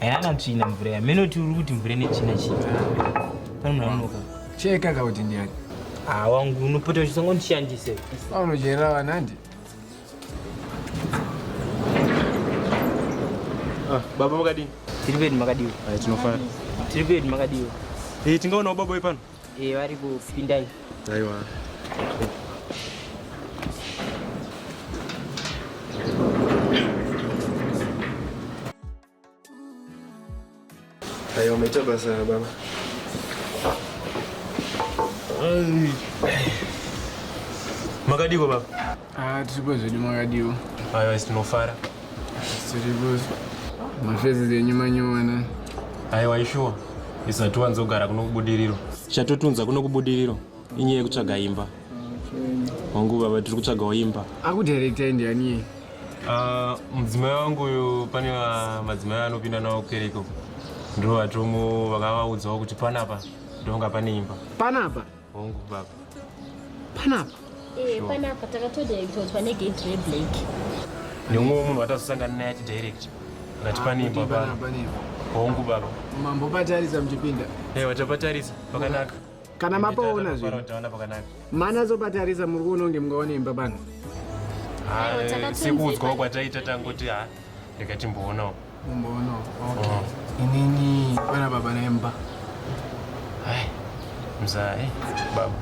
Hayana tsvina mvura ya. Meno turi kuti mvura ine tsvina chii. Pane munhu anonoka. Cheka ka kuti ndiyani. Ah wangu unopota uchisongo ndishandise. Unochera vanandi. Ah, baba makadini? Tiri pedu makadiwa. Ayi tinofara. Tiri pedu makadiwa. Eh, tingaonawo baba uyu pano. Eh, vari kupinda iyi. Aiwa. Aiwa, maita basa baba. Makadiko baba? Ah, tiripo zvedu makadiwo. Ayo tinofara. Tiripo. Mafezi zenyu manyowena. Ayo waishuwa. Isati wanzogara kuno kubudiriro. Chatotunza kuno kubudiriro. Inyaya yekutsvaga imba. Wangu baba tiri kutsvagawo imba. Akudirector ndiani iye? Ah, mudzimai wangu uyu pane madzimai anopinda nawo kereko. Ndoo vatomu vakavaudzawo kuti panapa ndonga pane imba. Panapa? Hongu baba. Panapa. Eh, sure. panapa takatodirectotwa negate reblack. Neumwe munhu watasosangana naye atidirect. Ngati ah, pane imba baba. Hongu baba. Mambo patarisa mchipinda. Eh, hey, wachapatarisa pakanaka. Kana mapaona zvinhu. Utaona pakanaka. Mana zopatarisa muri kuona kunge mungaona imba bana. Ah, eh, sikuudzwa kwataita tangoti ha. Ah, Ndikatimboona uko. Mumbono. Okay. Oh. Inini bana baba nemba. Hai. Mzai eh, baba.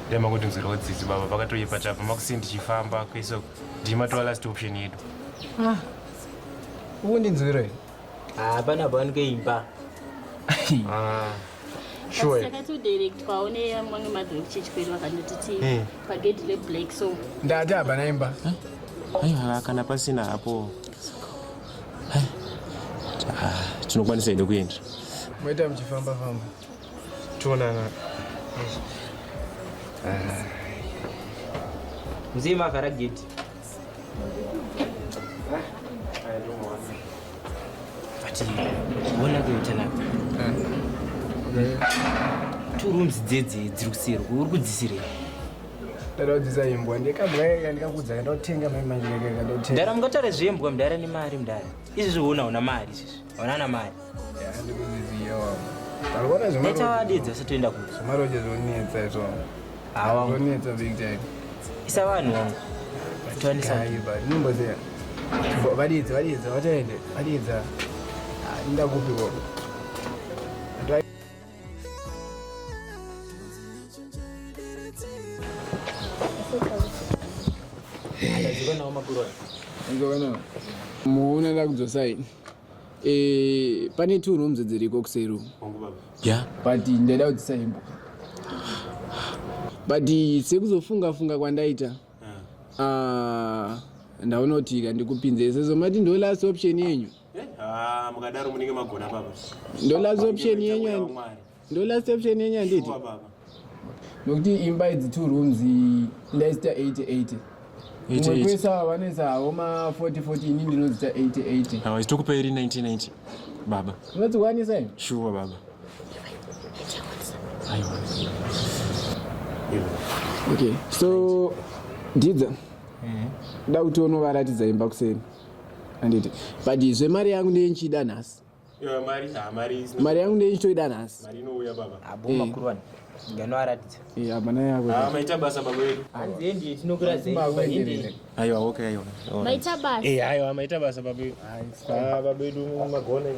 Dai makuti nzira wedzidzi baba pakatoipa chapa makusi ndichifamba kwese ndima to last option yedu. Ah. Uwo ndinzwira here? Ah, bana bana keimba. Ah. Sure. Saka to direct kwaone mamwe madhiri kuchichikwedu vakandoti ti eh. pagedhi leblack so. Ndati abana imba. Aiwa kana pasina hapo. Ah, tinokwanisa here kuenda moita muchifamba famba toonana ah. mzee mavhara gate but ona kuita nako two rooms dzedze dziri kuseri uri kudzisirei ndakadzidza imbwa ndikabwa ndikakudza kandotenga maimakandotenga mdara mungatare zvembwa mdara nemari mdara izvi zviona una mari izvizvi onana mari ndikuziziyawaitawadidza satoenda kuti zvemaroje zvonetsa izvo hawa zvonetsa big time isa vanhu wangu twanisa nyimbo dziya vadidza vadidza vataende vadidza ah, ndakupiko muona lakudzosaini eh, pane two rooms dziriko kuseru ya but ndaida kudzisaimba but sekuzofunga funga kwandaita ah, ndaona kuti ka ndikupinze sezvo mati ndo last option yenyu Eh, ah, mukadaro munenge magona baba. Ndo last option yenyu and ndo last option yenyu anditi. Nokuti imba idzi two rooms ndaisita 8080. Umwe kwese ava vanoisa homa 4040 ini ndinozita 8080. Hawa isitokupa iri 1990 baba. Unodzikwanisa imi? Shuwa baba. Aiwa. Okay, so Didza. Mm. Da kuti unovaratidza imba kuseni. handiti but zvemari yangu ndiye ndichiida nhasi mari yangu ndiye ndichitoida nhasi maita basa babedu magone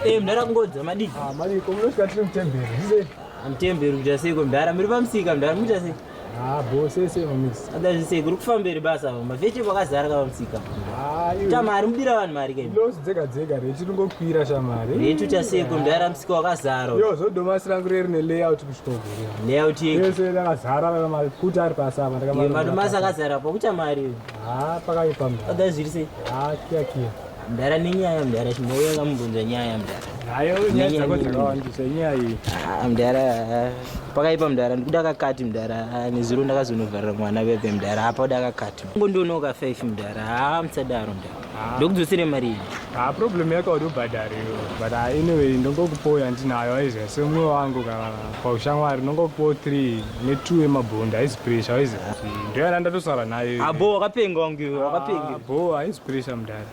Eh, mdara kungodza madii? Ah, madii, komunosvika tiri mutemberi, zvize. Mutemberi kuita sei ko mdara, muri pamusika mdara, muita sei? Ah, bo sese mamisi. Ada zvise kuri kufamberi basa mama. Veche vakazara kava musika. Ah, iwe. Tama ari mudira vanhu mari kai. Loss dzega dzega rechi ringokwira shamari. Rechi uta seko ndara musika wakazara. Yo zodoma sirangu reri ne layout kushitogura. Layout yake. Yes, yes, akazara kava mari kuti ari pasa apa ndakamara. Ye madoma sakazara pa kuta mari. Ah, pakaipa mama. Ada zvise. Ah, kia kia. Mdara nenyaya mdara chimbouya kamubvunza nyaya mdara. Hayo nyaya dzako dzakawandisa nyaya iyi. Ah mdara pakaipa mdara ndikuda kakati mdara ah, nezuro ndakazonovharira mwana veve mdara apa uda kakati. Ngo ndonoka 5 mdara ha ah, msadaro mdara. Ah. Ndokudzosere mari iyi. Ha problem yako uri ubhadhari but anyway ndongokupoya ndinayo aizve semwe wangu kana paushamwari ndongokupo 3 netu yemabhondi haizi pressure haizi ndio yana ndatosara nayo abo ah, wakapenga wangu iwe wakapenga ah, bo haizi pressure mdara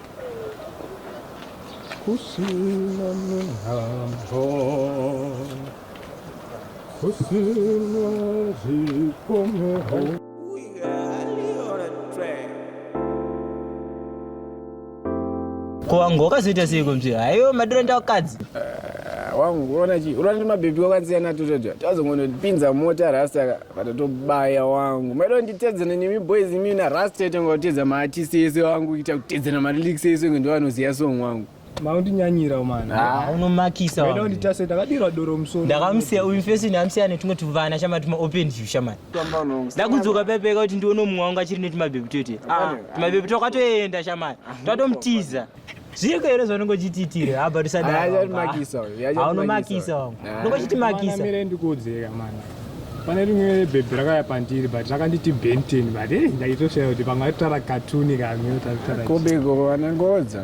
kusina mihambo kusina zvikomero ko wangu wakazoita sei kunzvi haiwo madiro ndakadzi eh, wangu unoona chii unoona kuti mabhebhi kwakatsiyana tutoto tazongonopinza mota rasta vatatobaya wangu maida kunditedzana nemi boys imi na rasta yaita kunga kutedza maartisti ese wangu kuita kutedzana maliliks ese kunge ndovanoziva song wangu maundinyanyira umana ah. unomakisa ndakadira doro musoro ndakamusiya uyu fesini amusiya netumwe tuvana shamani tumaopen view shamani ndakudzoka pepeka kuti ndione mumwe wangu achiri netumabebi twete ah, tumabebi twakatoenda shamai twatomutiza zviko here zvanonge uchitiitire haba tisadaaaunomakisa wangu nonge uchitimakisa ndikuudzeka mani pane rimwe bhebhi rakauya pandiri but rakanditi benten but e eh, ndaitoshaya kuti panga ritara katuni kamwe taritarakombe iko vanangodza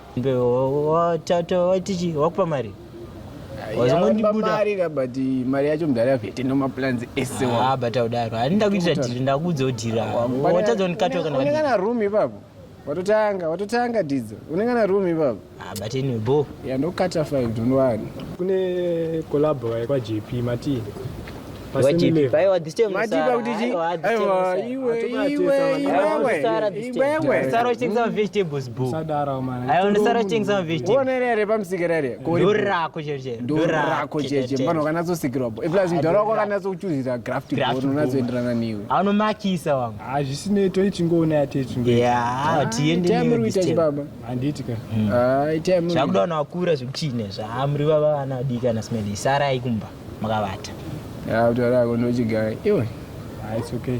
Tichi wakupa mari wazongondibudamarira but mari yacho mudhara yavete nemaplans ese ah, but audaro hani ndakuitira dhiri ndakuudza udhira watadza unikatoka kana room ipapo watotanga watotanga didzo unengana room ipapo ah, but anyway bo yandokata five don't worry kune collabo kwaJP mati Wachipi pai wa this time matipa kuti chi aiwa iwe iwe iwe sara this time sara uchinza vegetables boo sadara mwana ayo ndi sara uchinza vegetables one rere pamsike rere dora ko jeje dora ko jeje mwana kana zo sikirwa boo plus mdora ko kana zo kuchuzira graft boo unazo enderana niwe ano makisa wangu ah zvisine to ichingoona yate chingo yeah tiende ni this time baba anditi ka ah time chakuda na wakura zvikuchine zvaamri baba ana dika na smeli sara ikumba makavata ya kutaura yako ndochigaya iwe ah, it's okay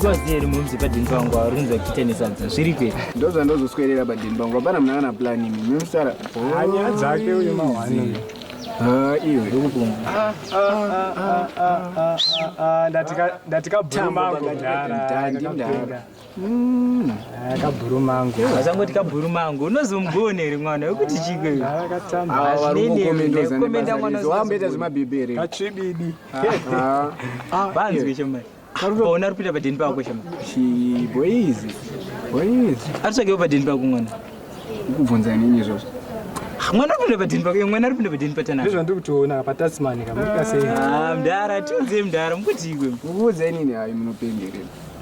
mukazi here mumzi padini pangu auri kunzi vachiita nesadza zviri kwe ndo zvandozoswerera padini pangu hapana muna kana plan imi mimusara hanya dzake uyo mahwani iwe ndatika bhuru mangu ndara kabhuru mangu vasangoti kabhuru mangu unozomugone here mwana wekuti chikoikomenda mwanawamboita zvemabhibheri katsvibidi vanzwe chomai ona ari kuita padeni pako chomai boizi boizi aritsvakewo padeni pako mwana ukubvunza inini izvozvo mwana aripinda padini pake mwana aripinda padini patanaa izvo ndiri kutoona patasimani kamuka sei mdara tiudze mdara mukuti ikwe mukuudza inini hayi munopengerera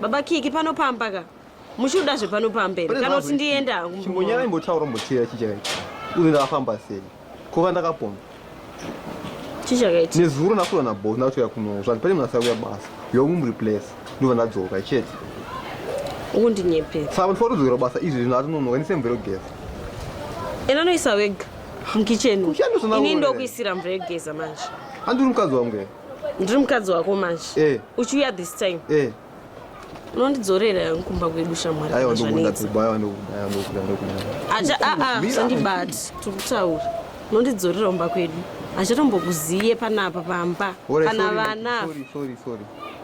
Baba Kiki pano pamba ka. Muchida zvepano pamba here kana kuti ndienda hangu. Chimbonyara imbotaura mbochira chichaka ichi. Uzi ndakafamba sei? Kuva ndakapona. Chichaka ichi. Nezuro nakura na boss ndakutouya kuno. Zvati pane munasa kuya basa. Yomu muriplace. Ndova ndadzoka chete. Ukundinyepera. Saka ndifora kudzokera basa izvi zvino atinonoka ndise mvero geza. Ena noisa wega. Mukitchen. Ini ndokuisira mvero geza manje. Andiri mukadzi wangu. ndiri mukadzi wako manje eh. uchiuya this time eh. unondidzorera yangu kumba kwedu shamwari aiwa ndokuda kuba aiwa ndokuda aiwa ndokuda ndokuda acha a a sandibati tiri kutaura unondidzorera kumba kwedu achatombokuziye panapa pamba kana vana sorry sorry sorry